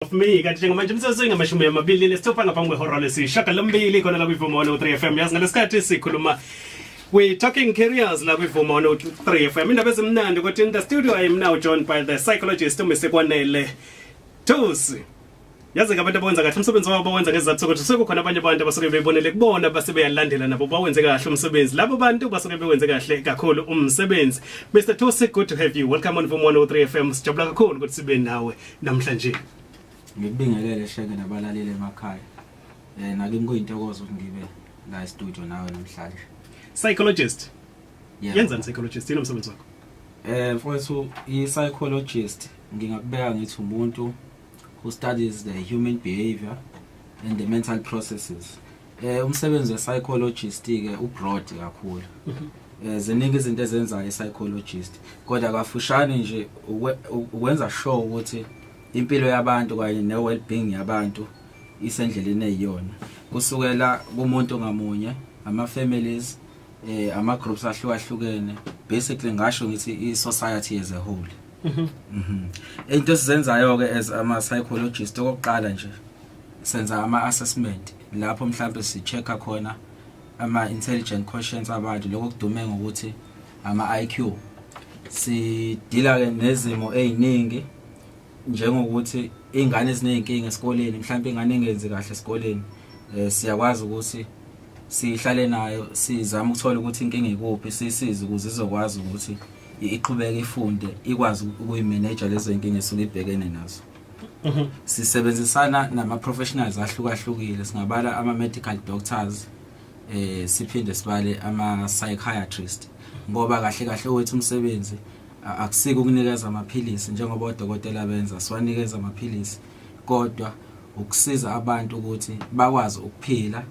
of me kanti njengamanje umsebenzi uyingamashumi amabili nesithupha ngaphambi kwehora lesishagalombili khona la kwivumo 103 FM yazi ngalesikhathi sikhuluma We talking careers la kwivumo 103 FM indaba ezimnandi ukuthi in the studio I am now joined by the psychologist uMr Kwanele Tusi yazi ke abantu abawenza kahle umsebenzi wabo bawenza ngezizathu sokuthi sekukhona abanye abantu abasuke bebonele kubona base beyalandela nabo bawenze kahle umsebenzi labo bantu basuke bewenze kahle kakhulu umsebenzi Mr Tosi good to have you welcome on Vuma 103 FM sijabula kakhulu ukuthi sibe nawe namhlanje ngikubingelele sheke nabalaleli emakhaya eh nakimi kuyintokozo ukuthi ngibe la e-studio nawe namhlanje psychologist yeah. yenzani psychologist yini umsebenzi wakho eh mfowethu i-psychologist ngingakubeka ngithi umuntu who studies the human behavior and the mental processes eh umsebenzi wepsychologist ke ubroad kakhulu eh ziningi izinto ezenzayo ipsychologist kodwa kafushane nje ukwenza sure ukuthi impilo yabantu kanye ne well being yabantu isendleleni eyiyona kusukela kumuntu ngamunye ama families eh ama groups ahlukahlukene basically ngasho ngithi i society as a whole mhm mhm into esizenzayo ke as ama psychologist okokuqala nje senza ama assessment lapho mhlawumbe si checka khona ama intelligent questions abantu lokho kudume ngokuthi ama IQ si dealer ke nezimo eziningi njengokuthi iy'ngane eziney'nkinga esikoleni mhlawumpe ingane engenzi kahle esikoleni um siyakwazi ukuthi sihlale nayo sizame ukuthola ukuthi inkinga ikuphi sisize ukuze izokwazi ukuthi iqhubeke ifunde ikwazi ukuyimeneja lezo y'nkinga esuke ibhekene nazo mhm. sisebenzisana nama-professionals ahlukahlukile singabala ama-medical doctors eh siphinde sibale ama psychiatrist ngoba kahle kahle wethu umsebenzi akusiko ukunikeza amaphilisi njengoba odokotela benza siwanikeza amaphilisi kodwa ukusiza abantu ukuthi bakwazi ukuphila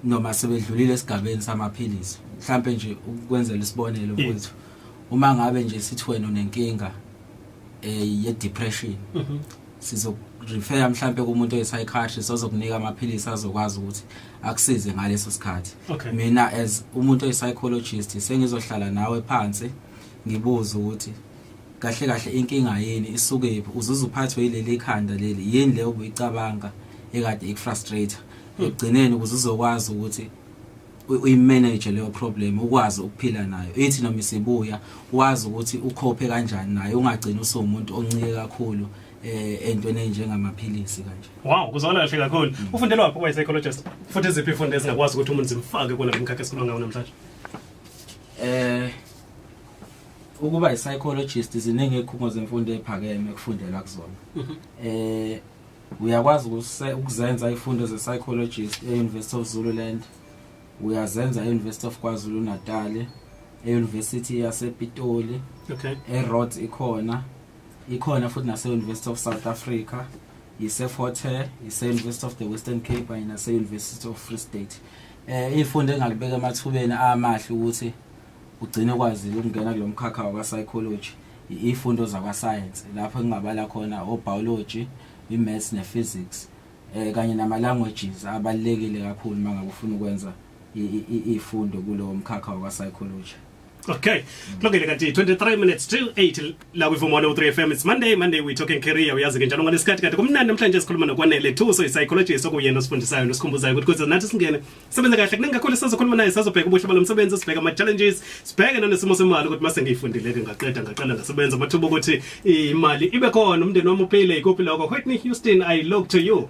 noma sebedlulile esigabeni samaphilisi mhlambe nje ukwenzela isibonelo mfowethu uma ngabe nje sithi wena unenkinga eh ye depression mhm. sizokurefera mhlampe kumuntu oyipsychiatrist ozokunika amaphilisi azokwazi ukuthi akusize ngaleso sikhathi okay. mina as umuntu oyipsychologist sengizohlala nawe phansi ngibuze ukuthi kahle kahle inkinga yini isukephi uzuze uphathwe yileli khanda leli yini le obuyicabanga ekade ikufrustrator ekugcineni ukuze uzokwazi ukuthi uyimanage leyo problem ukwazi ukuphila nayo ithi noma isibuya wazi ukuthi ukhophe kanjani naye ungagcina usumuntu oncike kakhulu eh entweni enjengamaphilisi kanje wow kuzona kahle kakhulu mm. ufundela waphi kwa psychologist futhi iziphi ifundo ezingakwazi ukuthi umuntu zimfake kona lomkhakha esikhuluma ngawo namhlanje eh ukuba i-psychologist ziningi ikhungo zemfundo ephakeme kufundelwa kuzona mhm. eh Uyakwazi ukuse- ukuzenza ifundo ze-psychologist e-University of Zululand, uyazenza e-University of KwaZulu-Natal, e-University yasePitoli, Okay. e-Rhodes ikhona, ikhona futhi nase-University of South Africa, yise-Fort Hare, yise-University of the Western Cape kanye nase-University of Free State. Eh, ifundo engalibeka emathubeni amahle ukuthi Ugcine kwazile ukungena kulo mkhakha wakwa-psychology ifundo zakwasayensi lapho engingabala khona o-biology, i-maths ne-physics um kanye nama-languages abalulekile kakhulu uma ngabe ufuna ukwenza iy'fundo kulowo mkhakha wakwa-psychology. Okay. Kulungile kanti 23 minutes to 8 la kwi Vumo 3 FM. It's Monday, Monday we talking career. Uyazi ke njalo ngalesikhathi kanti kumnandi namhlanje sikhuluma nokwanele Thuso i psychologist okuyena osifundisayo nosikhumbuzayo ukuthi kuze nathi singene sebenza kahle kuningi kakhulu sizokhuluma naye sazobheka ubuhle balo msebenzi sibheka ama challenges sibheke nanesimo semali ukuthi mase ngiyifundile ke ngaqeda ngaqala ngasebenza amathuba ukuthi imali ibe khona umndeni wami uphile ikuphi lokho Whitney Houston I look to you